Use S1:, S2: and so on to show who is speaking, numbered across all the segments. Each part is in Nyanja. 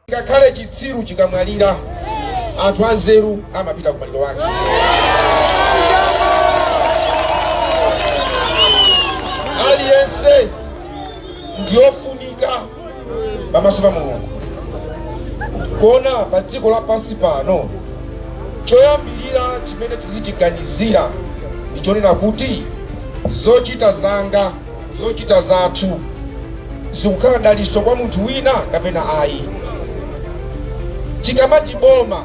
S1: ngakhale chitsiru chikamwalira anthu anzeru amapita ku maliro ake aliyense ndiyofunika pamaso pa mulungu koma pa dziko lapansi pano choyambirira chimene tizichiganizira ndi chonena kuti zochita zanga zochita zathu zikukhala daliso kwa munthu wina kapena ayi tikamati boma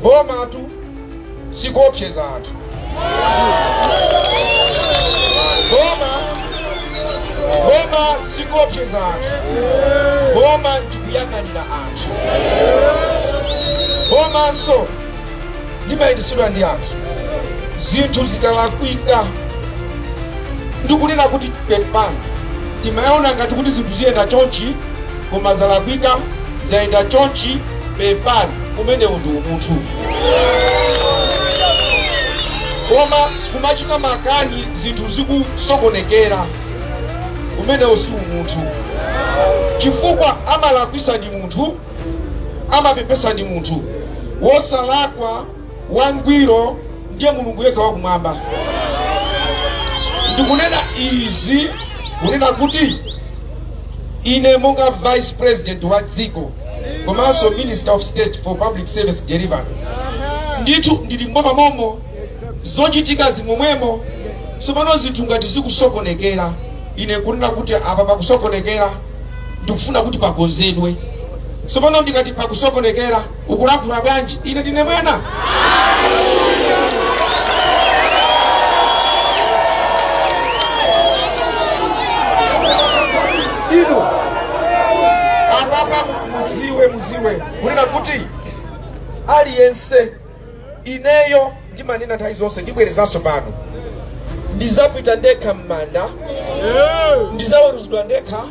S1: bomatu sikuopseza anthu boma boma sikuopseza anthu boma ndikuyang'anira anthu bomanso limayendetsedwa ndi anthu zinthu zikalakwika ndikunena kuti pepani timaona ngati kuti zinthu ziyenda chonchi koma zalakwika zayenda chonchi pepani umenewu ndi umunthu koma kumachita makani zinthu zikusokonekera umenewo si umunthu chifukwa amalakwisa ndi munthu amapepesa ndi munthu wosalakwa wangwiro ndiye mulungu yekha wakumwamba ndikunena izi kunena kuti Ine monga Vice President wa dziko komanso Minister of State for Public Service Delivery ndithu ndili m'boma momo zochitika zimenezo tsopano zinthu ngati zikusokonekera ine kunena kuti apa pakusokonekera ndikufuna kuti pakonzedwe tsopano ndikati pakusokonekera ukulakhula bwanji ine ndine mwana inu apapa mudziwe mudziwe kunena kuti aliyense Ineyo ndimanena nthawi zonse, ndibwerezanso pano, ndidzapita ndekha m'manda, ndidzaweruzidwa ndekha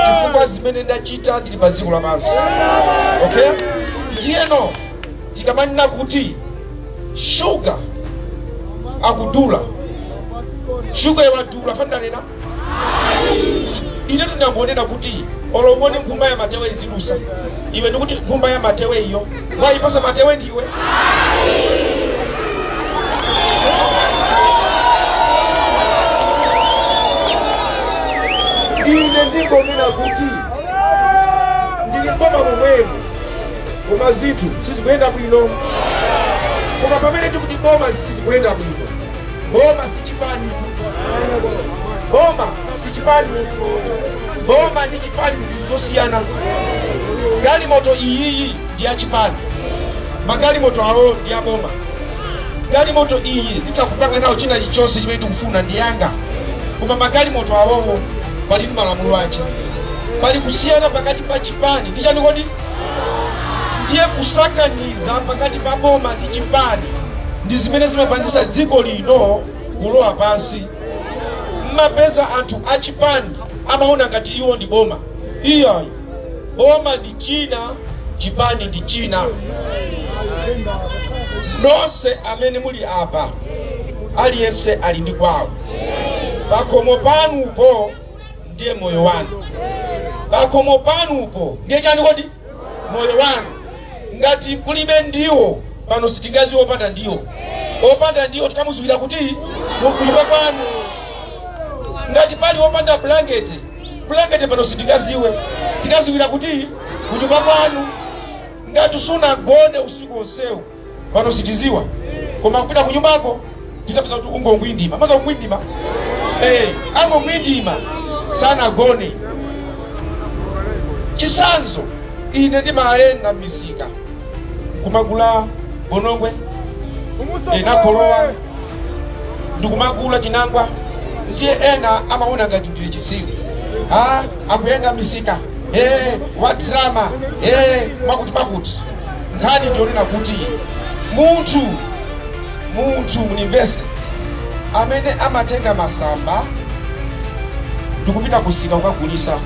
S1: chifukwa zimene ndachita ndili pa dziko lapansi. Okay, ndiyeno tikamanena kuti shuga akudula, shuga yo wadula ndanena ine ndinangonena kuti oloboni nkhumba ya matewe ikulusa iwe ndikuti nkhumba ya matewe iyo wayipatsa matewe ndiwe ine ndingonena kuti ndili m'boma momwemo koma zinthu sizikuyenda bwino koma pamene tikuti boma sizikuyenda bwino Boma si chipani tu. Boma si chipani. Boma ndi chipani ndi zosiyana. Galimoto iyiyi ndi ya chipani. Magalimoto awo ndi ya boma. Galimoto iyi nditakupanga nayo china chilichonse chimene ndikufuna ndi yanga. Koma magalimoto awowo ali ndi malamulo ache. Pali kusiyana pakati pa chipani ndi chani kodi? ndiye kusakaniza pakati pa boma ndi chipani ndi zimene zimapangisa dziko lino kulowa pansi mumapeza anthu achipani amaona ngati iwo ndi boma iyayi boma ndi china chipani ndi china nonse amene muli apa aliyense ali ndi kwawo pakhomo panupo ndiye moyo wanu pakhomo panupo ndiye chani kodi moyo wanu ngati kulibe ndiwo pano sitingaziwe opanda ndiwo opanda ndiwo tikamuziwira kuti kunyumba kwanu ngati pali opanda bulangeti bulangeti pano sitingaziwe tikaziwira kuti kunyumba kwanu ngati sunagone usiku onsewu pano sitiziwa koma kupita ku nyumbako tikapeza kuti ungongwindima mwaziwa kungwindima eh angongwindima sanagone chisanzo ine ndimayenda misika nkumagula bonongwe ndi kholowa ndikumagula chinangwa ndiye ena amaona ngati ndine chisiru ah akuyenda misika eh wadrama eh mwakuti mwakuti nkhani ndi yonena kuti munthu munthu munimvese amene amatenga masamba ndikupita kusika kukagulisa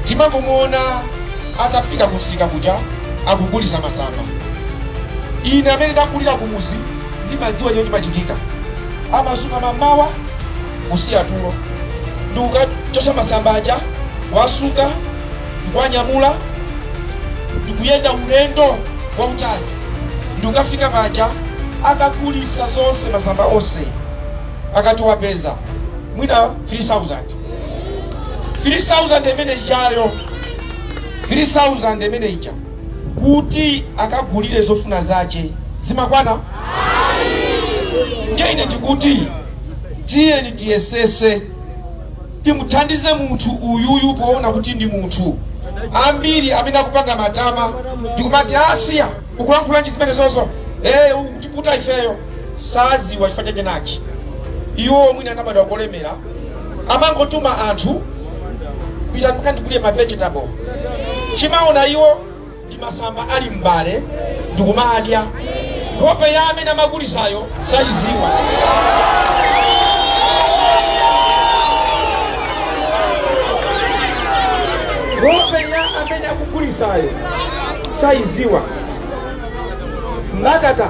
S1: timangomuona atafika kusika kuja akugulisa masamba ine amene ndakulira kumuzi ndimadziwa chimene chimachitika amazuka mmamawa kusiya tulo ndikukathyola masamba aja wasuka ndikuwanyamula ndikuyenda ulendo wautali ndikukafika paja akagulisa onse masamba onse akangopeza mwina 3000 3000 imene ijayo 3000 imene ija kuti akagulire zofuna zace zimakwana nde ine ndikuti tiyeni tiyesese timuthandize munthu uyuyu poona kuti ndi munthu ambiri amene akupanga matama ndikumati asiya ukulankhula ndi zimenezozo eh ukutiputa ifeyo saziwa chifukwa chake nchani iwo mwina anabadwira kolemera amangotuma anthu pitani mukandigulire ma vegetable chimaona iwo ndi masamba ali m'mbale ndikumadya nkhope ya amene amagulitsayo sayiziwa nkhope ya amene akugulisayo sayiziwa mbatata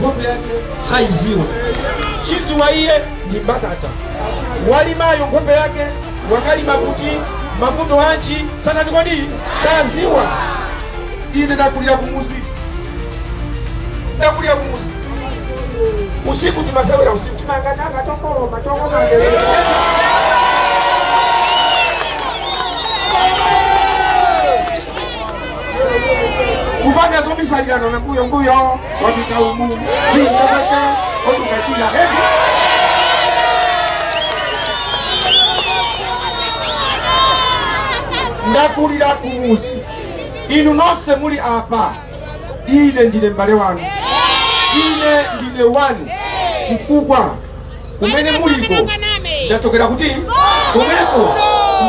S1: nkhope yake saiziwa chodziwa iye ndi mbatata walimayo nkhope yake wakalima kuti mavuto anji sana ndi kodi saziwa ine ndakulira kumuzi ndakulira kumuzi usiku timasewera usiku timanga changa tokoloma tokomandelele kupanga zobisalirana na mbuyo mbuyo wapita umu ndikapeze otukachila hevi ndakulira kumuzi inu nonse muli apa ine ndine mbale wanu ine ndine wanu chifukwa kumene muliko ndachokera kuti komweko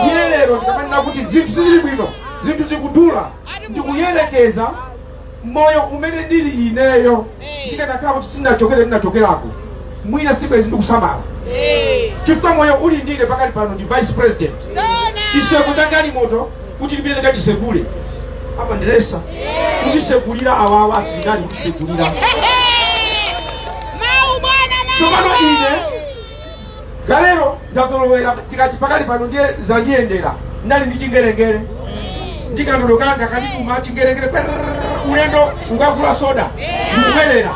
S1: ndiye lero ndikamanena kuti zinthu sizili bwino zinthu zikudula ndikuyerekeza moyo umene ndili ineyo ndikanakhala kuti sindinachokere ndinachokerako mwina sibwezi ndikusamala chifukwa moyo uli ndi ine pakali pano ndi vice president chitseko cha galimoto kuti lipite ndikachisekule amandiletsa kuchisekulira awawa asilikali kutisekulira Mau bwana mau. tsopano ine kalero ndazolowera tikati pakali pano ndiye zandiyendera ndinali ndi chingerengere ndi kandodo kanga akandituma chingerengere perrrr, ulendo kukagula soda ndikubwerera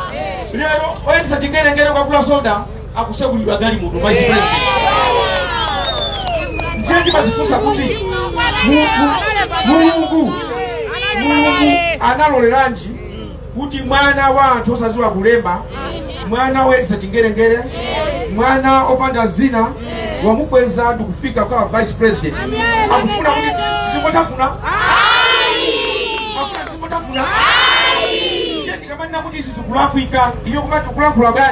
S1: lero oyendesa chingerengere kukagula soda akusekuliridwa galimoto vice president ndiye ndimazifunsa kuti Mulungu Mulungu analoleranji kuti mwana wa anthu osaziwa kulemba mwana woyendesa chingerengere mwana opanda zina wamukweza ndikufika kukhala vice president akufuna kuti zingotafuna akufuna kuti zingotafuna ndiye ndikamanena kuti izi zikulakwika iwo kumati kulankhula bwa